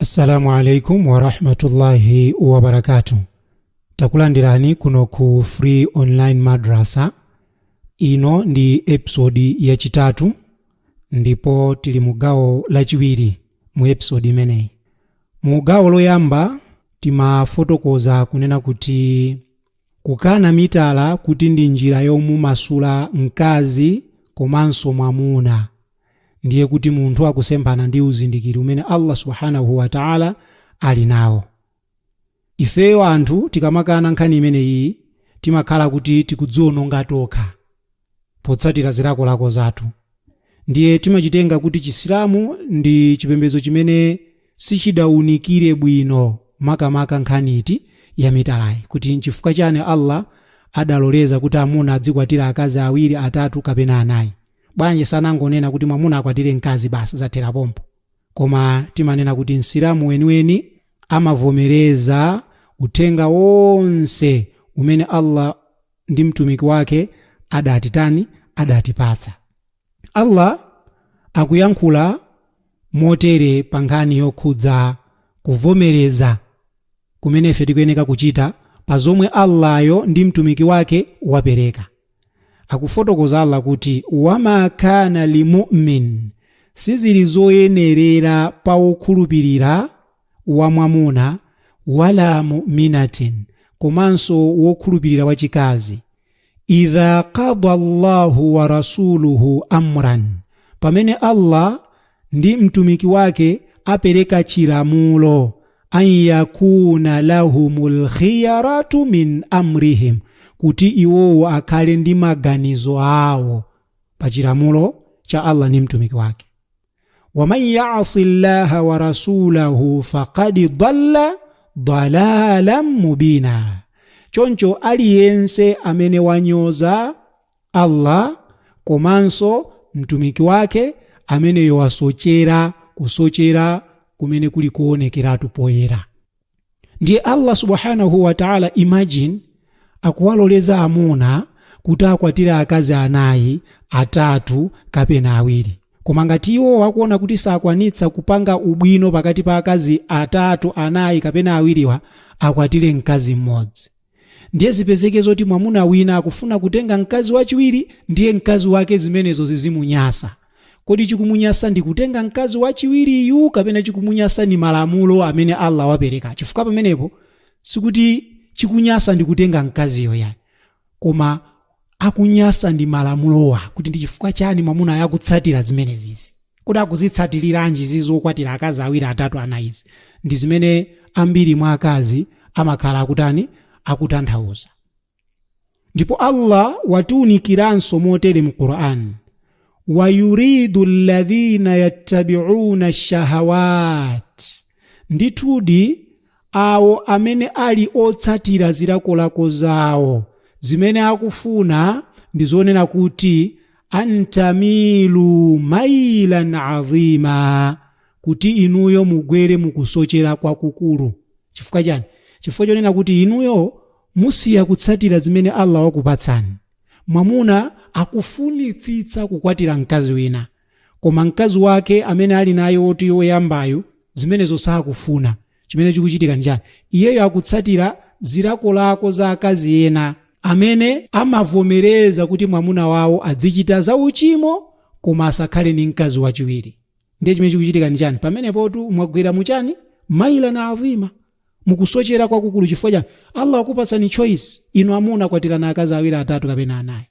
assalamu alaikum warahmatullahi wabarakatu takulandirani kuno ku free online madrasa ino ndi episodi yachitatu ndipo tili mu gawo lachiwiri mu episodi imeneyi mu gawo loyamba timafotokoza kunena kuti kukana mitala kuti ndi njira yomumasula mkazi komanso mwamuna ndiye kuti munthu akusemphana ndi uzindikiri umene Allah Subhanahu wa Ta'ala ali nawo. Ifeyo anthu tikamakana nkhani imeneyi timakhala kuti tikudziononga tokha potsatira zilakolako zathu. Ndiye timachitenga kuti Chisilamu ndi chipembedzo chimene sichidaunikire bwino makamaka nkhani iti ya mitalayi kuti nchifukwa chani Allah adaloleza kuti amuna adzikwatira akazi awiri, atatu kapena anayi. bwanji sanangonena kuti mwamuna akwatire mkazi basi zathera pompo koma timanena kuti msilamu weniweni amavomereza uthenga wonse umene allah ndi mtumiki wake adatitani adatipatsa allah akuyankhula motere pa nkhani yokhudza kuvomereza kumene ife tikuyeneka kuchita pa zomwe allahyo ndi mtumiki wake wapereka Akufotokoza Allah kuti, Wa ma kaana li mu'min, Sizili zoyenerera pa wokhulupirira wa mwamuna, wala mu'minatin, komanso wokhulupirira wa chikazi, idha qada Allahu wa rasuluhu amran, pamene Allah ndi Mtumiki Wake apereka chilamulo, an yakuna lahumul khiyaratu min amrihim, kuti iwowo akhale ndi maganizo awo pa chilamulo cha Allah ndi Mtumiki Wake. Waman yasi llaha wa rasulahu faqad dalla dalalan mubina, choncho aliyense amene wanyoza Allah komanso Mtumiki wake ameneyo wasochera kusochera kumene kuli kuonekeratu poyera ndiye Allah subhanahu wa ta'ala imagine akuwaloleza amuna kuti akwatire akazi anayi atatu kapena awiri koma ngati iwowo akuona kuti sakwanitsa kupanga ubwino pakati pa akazi atatu anayi kapena awiriwa akwatire mkazi mmodzi Ndiye zipezeke zoti mwamuna wina akufuna kutenga mkazi wachiwiri ndiye mkazi wake zimenezo zizimunyasa. Kodi chikumunyasa ndi kutenga mkazi wachiwiriyu kapena chikumunyasa ndi malamulo amene Allah wapereka? Chifukwa pamenepo sikuti chikunyasa ndi kutenga mkaziyo ayi. Koma akunyasa ndi malamulowa kuti ndi chifukwa chani mwamunayu akutsatira zimenezizi kodi akuzitsatiriranji izi zokwatira akazi awiri atatu anayizi ndi zimene ambiri mwa akazi amakhala akutani akutanthauza ndipo allah watiunikiranso motere mu qur'an wayuridu alladhina yattabi'una shahawat Ndithudi, awo amene ali otsatira zilakolako zawo zimene akufuna ndi zonena kuti, An tamilu mailan avima, kuti inuyo mugwere mu kusochera kwakukulu. Chifukwa chani? Chifukwa chonena kuti inuyo musiya kutsatira zimene Allah wakupatsani. Mwamuna akufunitsitsa kukwatira mkazi wina, koma mkazi wake amene ali naye woti woyambayu zimenezo sakufuna chimene chikuchitika njani iyeyo akutsatira zilakolako za akazi ena amene amavomereza kuti mwamuna wawo adzichita za uchimo koma asakhale ndi mkazi wachiwiri ndiye chimene chikuchitika ndi chani pamenepotu mwagwera muchani mailan avima mukusochera kwakukulu chifukwa chani allah wakupatsani choice inu amuna kwatirani akazi awiri atatu kapena anayi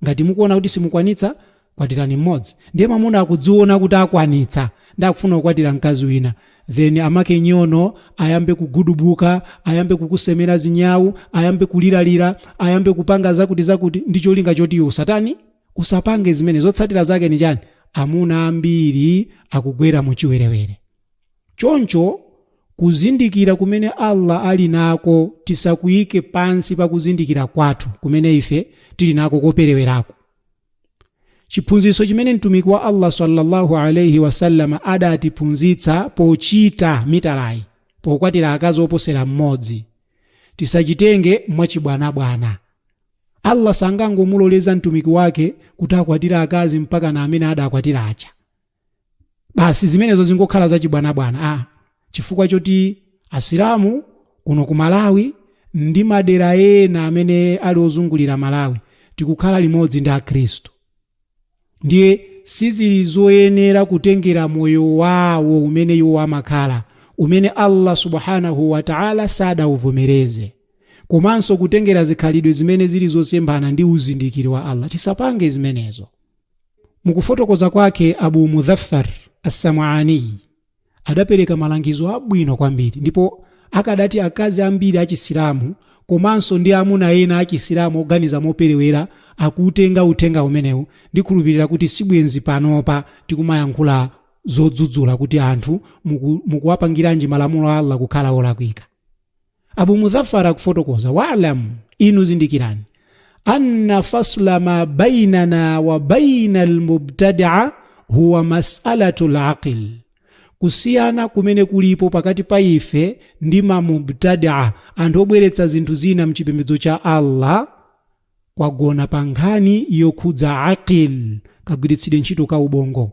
Ngati mukuona kuti simukwanitsa, kwatirani mmodzi. Ndiye mwamuna akudziona kuti akwanitsa ndi akufuna kukwatira mkazi wina then amake nyono ayambe kugudubuka, ayambe kukusemera zinyau, ayambe kuliralira, ayambe kupanga zakuti zakuti ndi cholinga choti iwe usatani? Usapange zimene zotsatira zake ndi chani? Amuna ambiri akugwera mu chiwerewere. Choncho kuzindikira kumene Allah ali nako tisakuike pansi pa kuzindikira kwathu kumene ife tili nako koperewerako. Chiphunzitso chimene Mtumiki wa Allah swalla-Allahu alaih wasallam adatiphunzitsa pochita mitalayi, pokwatira akazi oposera mmodzi, tisachitenge mwachibwanabwana. Allah sangangomuloleza Mtumiki wake kuti akwatire akazi mpaka amene adakwatira aja. basi zimenezo zingokhala zachibwanabwana chifukwa choti asilamu kuno ku malawi ndi madera ena amene ali ozungulira malawi tikukhala limodzi ndi akhristu ndiye sizili zoyenera kutengera moyo wawo umene iwo amakhala umene allah subhanahu wataala sadauvomereze komanso kutengera zikhalidwe zimene zili zosemphana ndi uzindikiri wa allah tisapange zimenezo mukufotokoza kwake abu mudhaffar assam'aniyi adapereka malangizo abwino kwambiri ndipo akadati akazi ambiri achisilamu komanso ndi amuna ena achisilamu oganiza moperewera akuutenga uthenga umenewu ndikhulupirira kuti sibwenzi panopa tikumayankhula zodzudzula kuti anthu mukuwapangiranji malamulo a allah kukhala olakwika abu mudhafar akufotokoza walam inu zindikirani anna fasla ma bainana wa baina almubtadia huwa masalatu laqli kusiyana kumene kulipo pakati pa ife ndi mamubtadia anthu obweretsa zinthu zina mchipembedzo cha allah kwagona pa nkhani yokhudza aqil kagwiritsidwe ntchito ka ubongo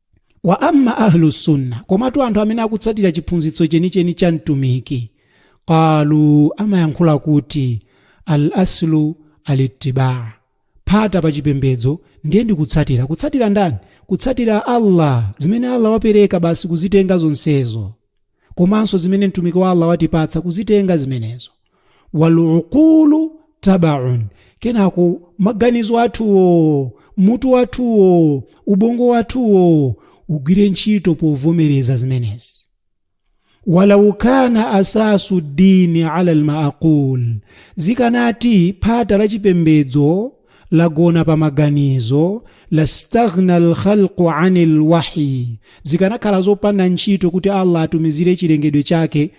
wa amma ahlu sunna komatu anthu amene akutsatira chiphunzitso chenicheni cha mtumiki qalu amayankhula kuti al aslu alittibaa phata pa chipembedzo ndiye ndikutsatira kutsatira ndani kutsatira allah zimene allah wapereka basi kuzitenga zonsezo komanso zimene mtumiki wa allah watipatsa kuzitenga zimenezo waluqulu tabaun kenako maganizo athuwo mutu wathuwo ubongo wathuwo ugwire ntchito povomereza zimenezi walau kana asasu dini ala almaaqul zikanati phata la chipembedzo lagona pa maganizo lastaghna alkhalqu ani lwahyi zikanakhala zopanda ntchito kuti allah atumizire chilengedwe chake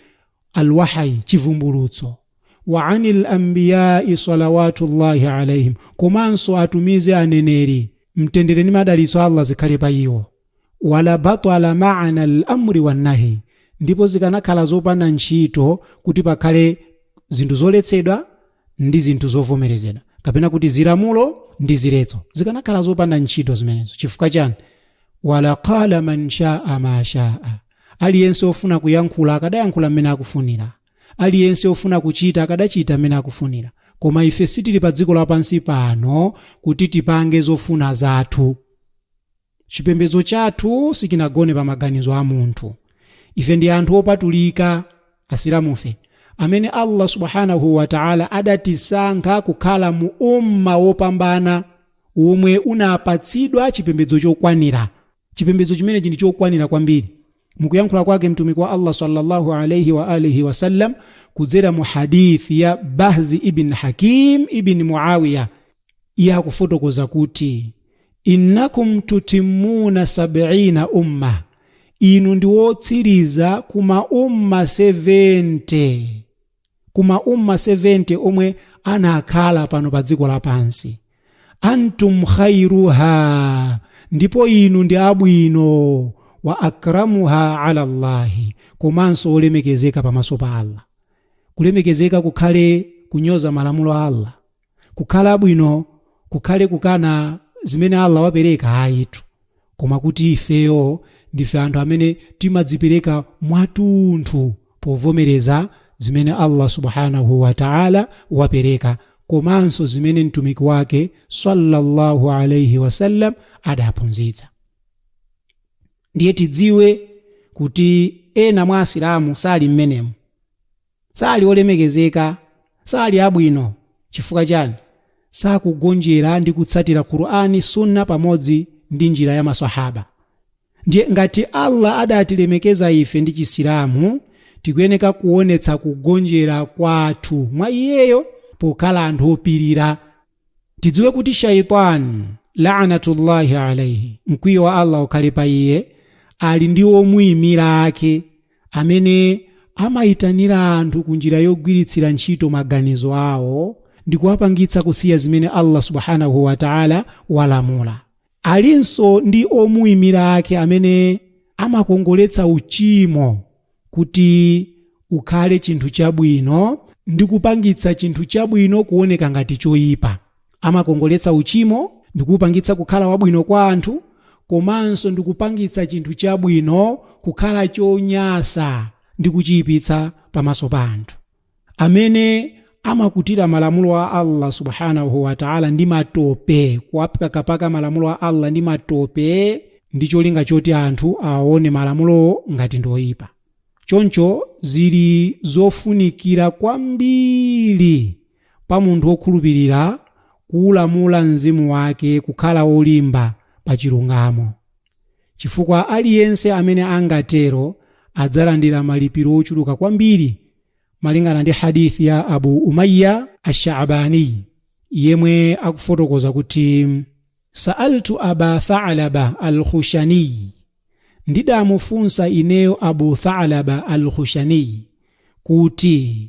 alwahyi chivumbulutso wa ani lambiyai salawatullahi alaihim komanso atumize aneneri mtendere ndi madalitso a allah zikhale pa iwo wala batala maana lamri wannahi ndipo zikanakhala zopanda ntchito kuti pakhale zinthu zoletsedwa ndi zinthu zovomerezedwa kapena kuti zilamulo ndi ziletso zikanakhala zopanda ntchito zimenezo chifukwa chani wala qala man shaa ma shaa aliyense ofuna kuyankhula akadayankhula mmene akufunira aliyense ofuna kuchita akadachita mmene akufunira koma ife sitili pa dziko lapansi pano kuti tipange zofuna zathu chipembedzo chathu sichinagone pa maganizo a munthu ife ndi anthu opatulika asilamufe amene allah subhanahu wa taala adatisankha kukhala mu umma wopambana omwe unapatsidwa chipembedzo chokwanira chipembedzo chimenechi ndi chokwanira kwambiri Mukuyankhula kwake Mtumiki wa Allah salla Allahu alaihi wa alih wasallam kudzera mu Hadithi ya Bahzi ibn Hakim ibn Muawiyah, iye akufotokoza kuti Innakum tutimmuna sab'ina umma, inu ndi wotsiriza ku ma umma 70. ku ma umma 70 omwe anakhala pano pa dziko lapansi antum khairuha ndipo inu ndi abwino wa akramuha ala llahi komanso olemekezeka pamaso pa allah kulemekezeka kukhale kunyoza malamulo a allah kukhala bwino kukhale kukana zimene allah wapereka ayitu koma kuti ifeyo ndife anthu amene timadzipereka mwatunthu povomereza zimene allah subhanahu wataala wapereka komanso zimene mtumiki wake sallallahu alaihi wasallam adaphunzitsa ndiye tidziwe kuti ena mwa asilamu sali mmenemu Sali olemekezeka, sali abwino. Chifukwa chani? Sakugonjera ndi kutsatira Qur'an, Sunnah pamodzi ndi njira ya Maswahaaba. Ndiye ngati Allah adatilemekeza ife ndi Chisilamu, tikuyeneka kuonetsa kugonjera kwathu mwa Iyeyo pokhala anthu opirira. tidziwe kuti shaitani laanatullahi alaihi mkwiyo wa allah ukhale pa iye ali ndi omuyimira ake amene amayitanira anthu ku njira yogwiritsira ntchito maganizo awo ndi kuwapangitsa kusiya zimene allah subhanahu wataala walamula Alinso ndi omuimira ake amene amakongoletsa uchimo kuti ukhale chinthu chabwino ndi kupangitsa chinthu chabwino kuoneka ngati choipa. Amakongoletsa uchimo ndi kuupangitsa kukhala wabwino kwa anthu komanso ndi kupangitsa chinthu chabwino kukhala chonyasa ndi kuchiipitsa pamaso pa anthu. amene amakutira malamulo a allah subhanahu wataala ndi matope kuwapakapaka malamulo a allah ndi matope ndi cholinga choti anthu aone malamulowo ngati ndoyipa choncho zili zofunikira kwambiri pa munthu wokhulupirira kuulamula mzimu wake kukhala olimba pa chilungamo chifukwa aliyense amene angatero adzalandira malipiro ochuluka kwambiri malingana ndi hadith ya abu umayya ashshabaniy yemwe akufotokoza kuti sa'altu aba thalaba alkhushaniy ndidamufunsa ineyo abu thalaba alkhushaniy kuti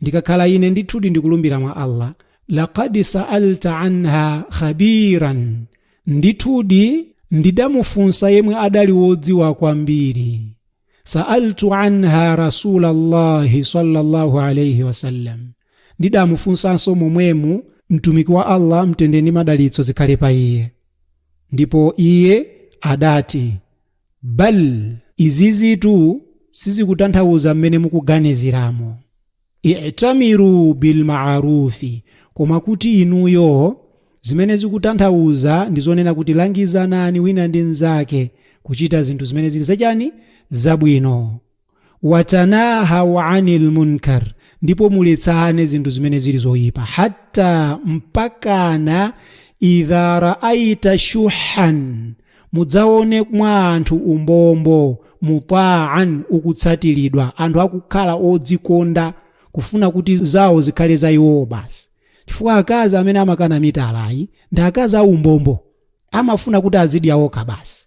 ndikakhala ine ndithudi ndikulumbira mwa allah laqad sa'alta anha khabiran ndithudi ndidamufunsa yemwe adali wodziwa kwambiri sa'altu anha rasulallahi sallallahu alayhi wasallam ndidamufunsanso momwemu mtumiki wa allah mtendere ndi madalitso zikhale pa iye ndipo iye adati bal izizitu sizikutanthauza mmene mukuganiziramo itamiru bilmarufi koma kuti inuyo zimene zikutanthauza ndi zonena kuti langizanani wina ndi nzake kuchita zinthu zimene zili zachani zabwino Watanahaw anil munkar, ndipo muletsane zinthu zimene zili zoipa. Hatta, mpakana, idha raaita shuhan, mudzaone mwa anthu umbombo, muta'an, ukutsatiridwa, anthu akukhala odzikonda, kufuna kuti zawo zikhale za iwowo basi. Chifukwa akazi amene amakana mitalayi, ndi akazi aumbombo, amafuna kuti azidya iwo okha basi.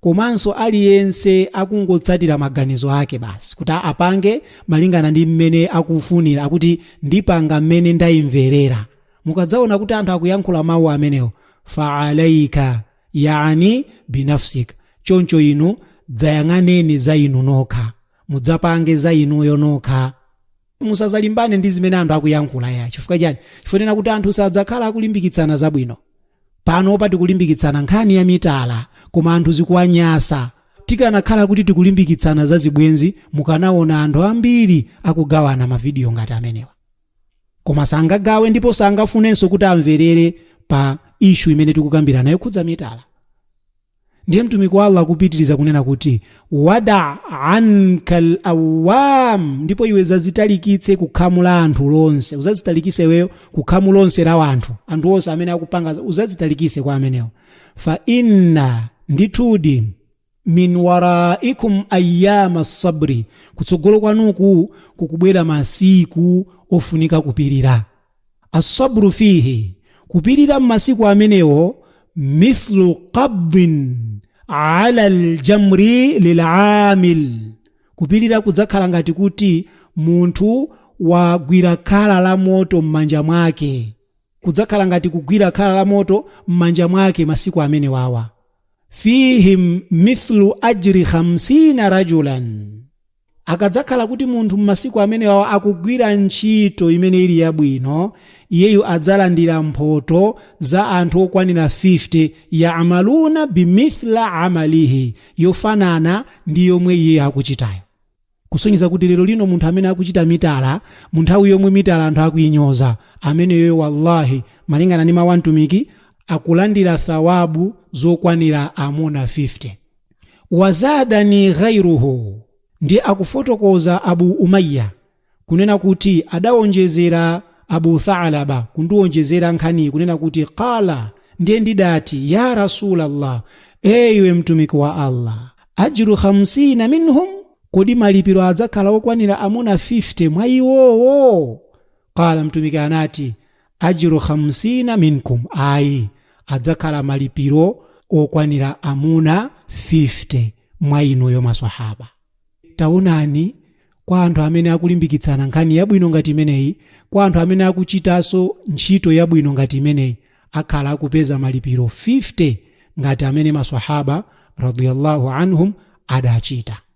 komanso aliyense akungotsatira maganizo ake basi kuti apange malingana ndi mmene akufunira akuti ndipanga mmene ndayimverera mukadzaona kuti anthu akuyankhula mawu amenewo faalaika yani binafsika choncho inu dzayang'aneni za inu nokha mudzapange za inuyo nokha musazalimbane ndi zimene anthu akuyankhula ya chifukwa chani chifukwa kuti anthu sadzakhala akulimbikitsana zabwino panopa tikulimbikitsana nkhani ya mitala koma anthu zikuwanyasa tikanakhala kuti tikulimbikitsana za zibwenzi mukanaona anthu ambiri akugawana mavidiyo ngati amenewa koma sangagawe ndipo sangafunenso kuti amverere pa ishu imene tikukambirana yokhudza mitala ndiye mtumiki wa allah akupitiriza kunena kuti wada anka lawam ndipo iwe zazitalikitse kukhamu la anthu lonse uzazitalikise iweyo kukhamu lonse la wanthu anthu onse amene akupanga uzazitalikise kwa amenewo fa inna ndithudi min waraikum ayama sabri kutsogolo kwanuku kukubwera masiku ofunika kupirira Assabru fihi, kupirira m'masiku amenewo, mithlu qabdin ala aljamri lilamil, kupirira kudzakhala ngati kuti munthu wagwira khala la moto m'manja mwake, kudzakhala ngati kugwira khala la moto m'manja mwake masiku amenewawa. Fihim mithlu ajri khamsina rajulan, Akadzakhala kuti munthu m'masiku amenewawa akugwira ntchito imene ili yabwino, iyeyu adzalandira mphoto za anthu okwanira 50, ya'malūna bimithla 'amalihi, yofanana ndi yomwe iyeyu akuchitayo. Kusonyeza kuti lero lino munthu amene akuchita mitala, mu nthawi yomwe mitala anthu akuinyoza, ameneyoyo wallahi, malingana ndi mawu a Mtumiki, akulandira thawabu zokwanira amuna 50. wazadani ghairuhu ndi akufotokoza abu umayya kunena kuti adawonjezera abu thalaba kundiwonjezera nkhaniyi kunena kuti qala ndiye ndidati ya rasulallah eyiwe mtumiki wa allah ajru 50 minhum kodi malipiro adzakhala okwanira amuna 50 mwa iwowo qala mtumiki anati ajru khamsina minkum ayi adzakhala malipiro okwanira amuna 50 mwa inuyo maswahaba taonani kwa anthu amene akulimbikitsana nkhani yabwino ngati imeneyi kwa anthu amene akuchitanso ntchito yabwino ngati imeneyi akhala akupeza malipiro 50 ngati amene maswahaba radiyallahu anhum adachita